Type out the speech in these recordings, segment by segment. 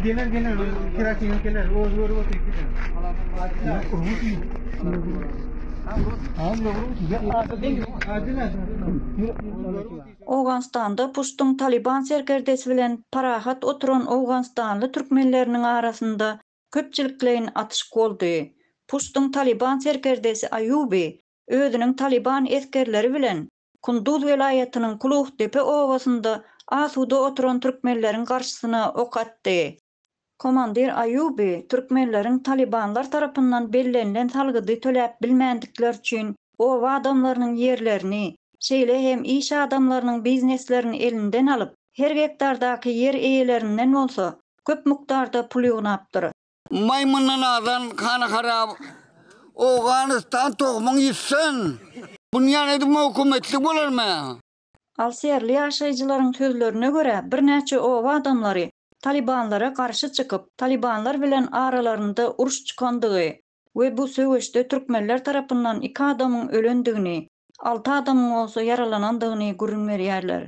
Geler geler, kirasını geler, o zor o tek gider. Owganystanda Puştuň Talyban serkerdesi bilen parahat oturan owganystanly türkmenleriniň arasynda köpçülikleýin atyşyk boldy. Puştuň Talyban serkerdesi Aýuby özüniň Talyban esgerleri bilen Kunduz welaýatynyň Kuluhdepe obasynda asuda oturan türkmenleriň garşysyna ok atdy. Komandir Aýuby türkmenleriň talybanlar tarapyndan bellenilen salgydy töläp bilmändikleri üçin oba adamlarynyň ýerlerini, şeýle hem iş adamlarynyň bizneslerini elinden alyp, her gektardaky ýer eýelerinden bolsa köp mukdarda pul ýygnapdyr. Maýmyndan azan hany harap. Owganystan tohumyň ýitsin. Bunýan edip mowkumetlik bolarmy? Alsýerli ýaşaýjylaryň sözlerine görä, birnäçe oba adamlary Talybanlara garşy çykyp, Talybanlar bilen aralarynda uruş çykandygy we bu söweşde türkmenler tarapyndan iki adamyň ölendigini, alty adamyň bolsa ýaralanandygyny gürrüň berýärler.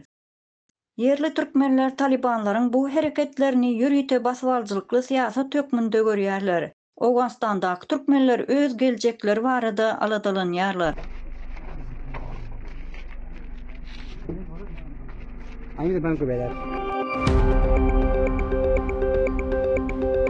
Ýerli türkmenler talybanlaryň bu hereketlerini ýörite basybalyjylykly syýasat hökmünde görýärler. Owganystandaky türkmenler öz geljekleri barada aladalanýarlar.